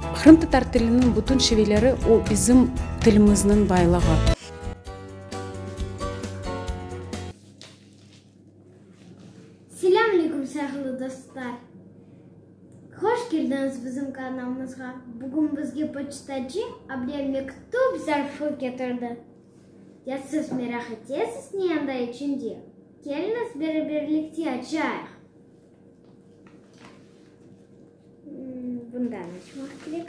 Qırımtatar tiliniñ bütün şiveleri o bizim tilimizniñ baylığı. Selâm aleyküm sâhlı dostlar! Hoş keldiñiz bizim kanalımızğa! Bugün bizge poçtacı Abrem mektüp zarfı ketirdi. Ya siz meraq etesiz ne anda içinde? Keliñiz beraberlikte açayıq! Bundan açmaq kerek.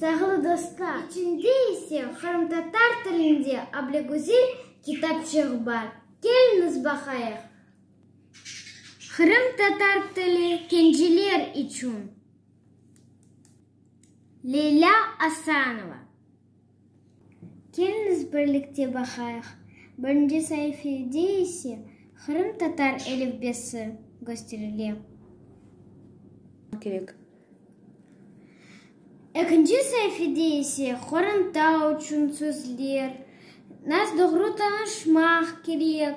Sayğılı dostlar, içinde ise qırımtatar tilinde Ablagüzel kitapçıq bar. Keliñiz baqayıq. Qırımtatar tili kenciler içün, Leylâ Asanova. Keliñiz birlikte baqayıq. Birinci saifede ise qırımtatar elifbesi kösterile. Kerek. Ekinci saifede ise qoranta uçün sözler, naz doğru tanışmaq kerek.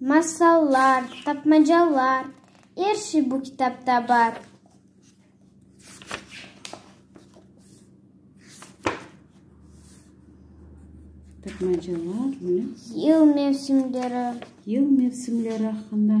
Masallar, tapmacalar, er şey bu kitapta bar. Tapmacalar, ne? Yıl mevsimleri. Yıl mevsimleri aqqında.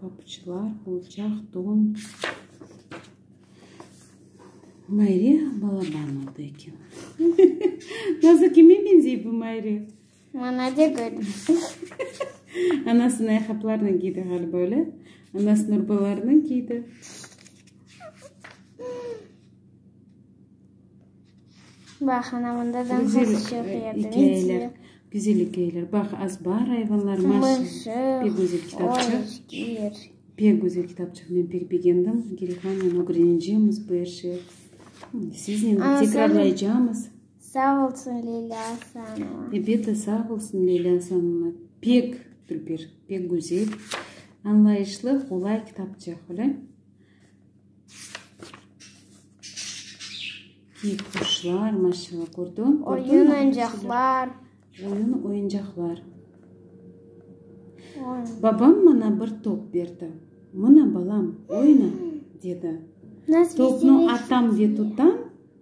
Papçılar, qolçaq, don. Mayre balaban oldı eken. Nasıl, kime benzey bu Mayre? Mana de görüñ. Anası nayhaplarnıñ kiydi ğaliba, öyle? Anası Nurbalarnıñ kiydi. Bax, ana, mında da ikâyeler, güzel ikâyeler. Bax, az bar ayvanlar, mışıq, pek güzel kitapçıq. Pek güzel kitapçıq, men pek begendim. Gelihanen ögrenecemiz bu er şey. Siznen de tekrarlaycamız. Sağ olsun, Leyla Asanova. Ebet de sağ olsun, Leyla Asanova. Pek, Gülpir, pek güzel, añlayışlı, qolay kitapçıq, öyle. Kiy quşlar, maşallah, kördiñ? Oyun oyuncaqlar. Oyun oyuncaqlar. Babam mana bir top berdi. Mına, balam, oyna, dedi. Topnı atam ve tutam.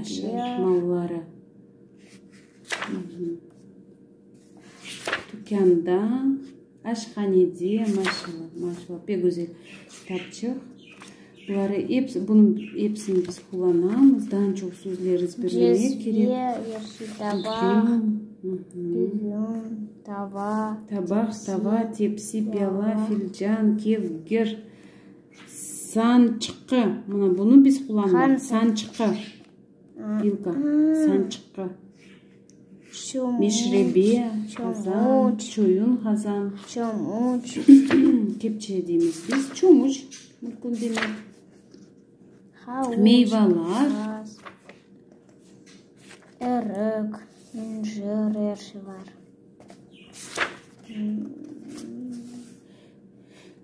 Aşır malları tükânda, aşhanede, maşallah, maşallah, pek güzel kitapçıq. Buları episi, bunıñ episini biz qullanamız. Daa çoq sözler ezberlemek kerek. Cezve, yeşil tabaq, düzüm, tava, tepsi. Tabaq, tava, tepsi, piala, filcan, kevgir. Sançqı, mına bunı biz qullanırıq, sançqı, pilka, sançqı, meşrebe, qazan, çoyun, qazan, kepçe deymiz biz, çomıç, murkun demek, meyvalar, erik, incir, er şey bar.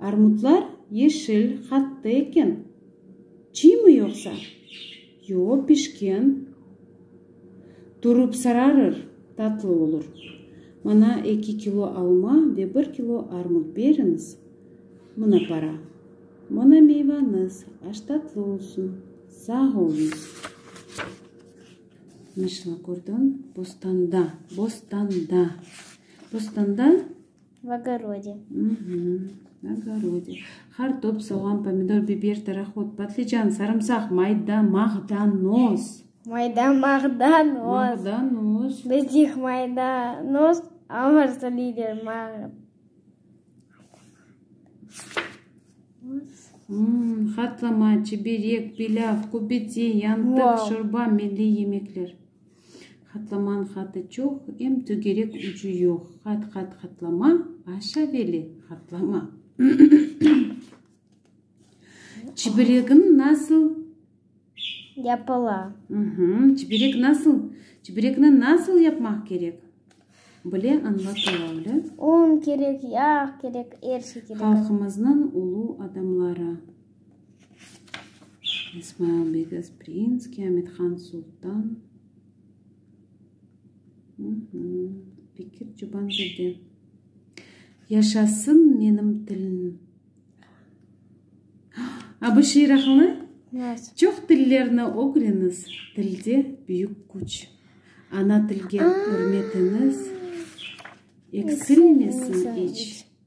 Armutlar yeşil, hatta eken. Çiymi yoqsa? Yo, pişken. Turıp sararır, tatlı olur. Maña eki kilo alma ve bir kilo armut beriñiz. Mına para. Mına meyvañız, aş tatlı olsun. Sağ oluñız. Mişna, kördiñ, bostanda, bostanda, bostanda. V ogorode. Uhmm, ogorode. Qartop, soğan, pomidor, biber, tarahod, patlıcan, sarımsaq, mayda, mağdanoz. Mayda, mağdanoz. Mağdanoz. Bizdeki maydanoz, a orası lider, mağdanoz. Uhmm, hatlama, çiberek, pilâv, kubeti, yantıq, şorba, milliy yemekler. Hatlamanıñ hatı çoq, em tögerek ucu yoq. Hat, hat, hatlama, aşa veli, hatlama. Çibiregiñ nasıl? Yapıla. Çiberek nasıl? Çiberekni nasıl yapmaq kerek? Bile añlatıla, öyle? Un kerek, yağ kerek, er şey kerek. Halqımıznıñ ulu adamları. İsmail Bege Sprinskiy, Amithan Sultan, Bekir Çobandede. Yaşasın menim tilim! A bu şiir aqıllı? Çoq tillerni ögreniz, tilde büyük küç. Ana tilge ürmetiniz eksilmesin iç.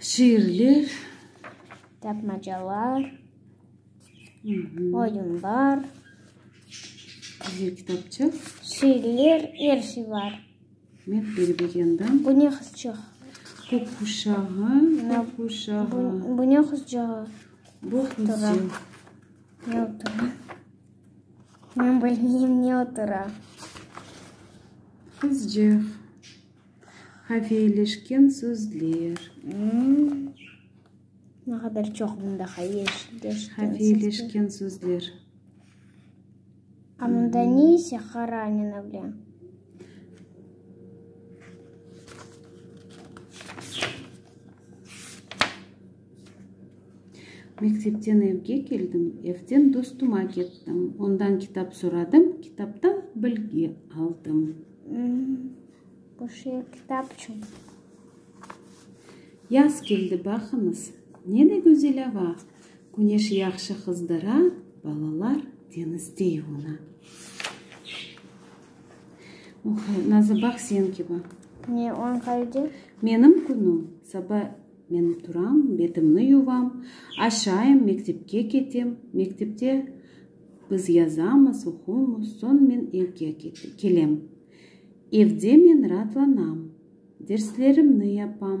Şiirler. Tapmacalar. Oyunlar. Kitapçıq. Şiirler, er şey var. Met beri begendim. Bu ne qızçıq? Kök quşağı, kök quşağı. Bu ne qızcığı? Bu qızcı. Ne otura? Men bilmeyim ne otura. Qızcıq. Haveyleşken sözler. Hmm. Ne kadar çok bunda haveyleşken sözler. Haveyleşken sözler. Mında ne ise Haranina bilen? Mektepten evge keldim, evden dostuma kettim, ondan kitap soradım, kitaptan bilgi aldım. Bu şiir kitap içün. Yaz keldi, baqıñız, ne de güzel ava! Küneş yahşı qızdara, balalar deñizde yuvuna. Oqay, nazı, bax, sen kibi. Ne oñ qayde? Menim künüm, saba men turam, betimni yuvam, aşayım, mektepke ketem, mektepte biz yazamız, oquymız, soñ men evge kelem. Evde men raatlanam, derslerimni yapam.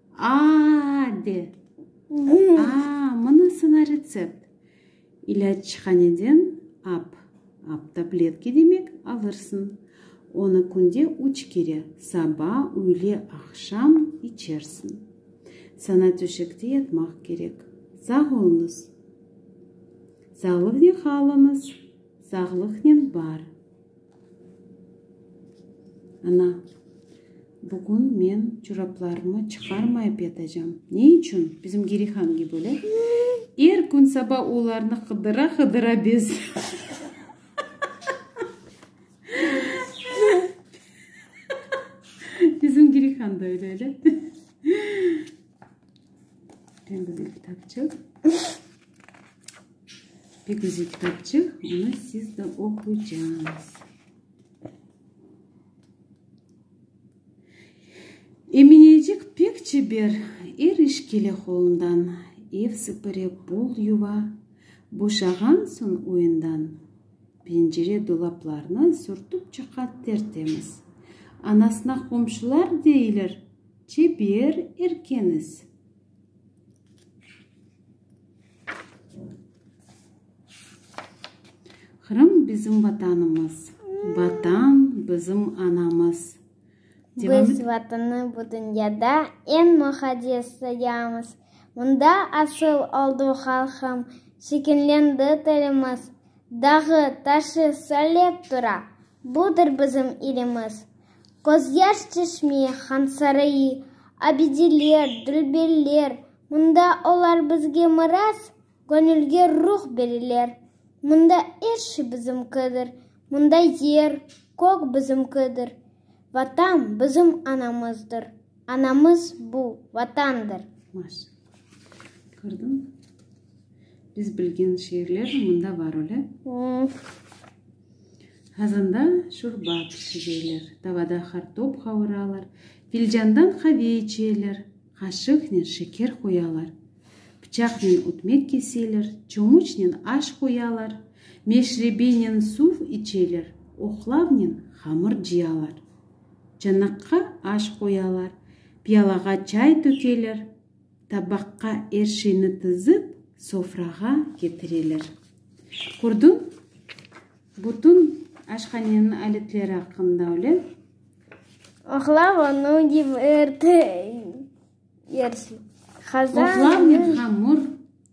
Aa! de. Aa! Mına saña retsept. İlâc çihaneden ap, ap tabletki demek, alırsıñ. Onı künde üç kere, saba, üyle, aqşam, içersiñ. Saña töşekte yatmaq kerek. Sağ oluñız. Sağlıgnen qalıñız. Sağlıgnen bar. Ana, bugün men çoraplarımı çıqarmayıp yatacam. Ne içün? Bizim Gerihan kibi öyle. Er kün saba olarnı qıdıra-qıdıra bez. Bizim Gerihan da öyle, öyle. Pek güzel kitapçıq. Pek güzel kitapçıq. Onı siz de oqucaz. Eminecik pek çeber, er iş kele qolundan. Ev sıpıre, bol yuva, boşağan soñ oyundan. Pencere dolaplarnı sürtüp çıqa tertemiz. Anasına qomşular deyler. Çeper erkeniz. Qırım bizim Vatanımız. Vatan bizim anamız. Biz Vatanı bu dünyada en muqaddes sayamız. Mında asıl oldu halqım, şekillendi tilimiz. Dağı, taşı, söylep tura. Budır bizim ilimiz. Közyaş çeşme, Hansarayı, Abidiler, Dülberler, Mında olar bizge miras, Göñülge ruh bereler. Mında er şey bizimkidir, Mında yer, kök bizimkidir. Vatan bizim anamızdır, Anamız bu, Vatandır. Maş. Kördiñ? Biz bilgen şiirler mında bar öyle. Qazanda şorba pişireler, tavada qartop qavuralar, filcandan qave içeler, qaşıqnen şeker qoyalar. Pıçaqnen ötmek keseler, çomuçnen aş qoyalar, meşrebenen suv içeler, oqlavnen hamır cıyalar. Çanaqqa aş qoyalar, piyalağa çay tökeler. Tabaqqa er şeyni tizip, sofrağa ketireler. Kördiñ? Bütün aşhaneniñ aletleri aqqında öyle. Oqlav onı yıp, ırt, yersin. Qazan, yün. Oqlavnen hamır.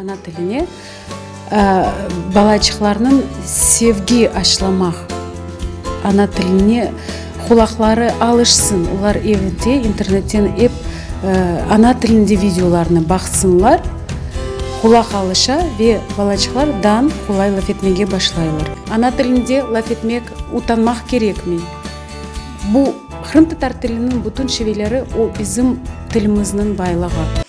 Ana tiline balaçıqlarnıñ sevgi aşlamaq, ana tiline qulaqları alışsın, olar evde internetten ep ana tilinde videolarnı baqsınlar, qulaq alışa ve balaçıqlar dan qolay laf etmege başlaylar. Ana tilinde laf etmek utanmaq kerekmey. Bu, qırımtatar tiliniñ bütün şiveleri, o bizim tilimizniñ baylığı.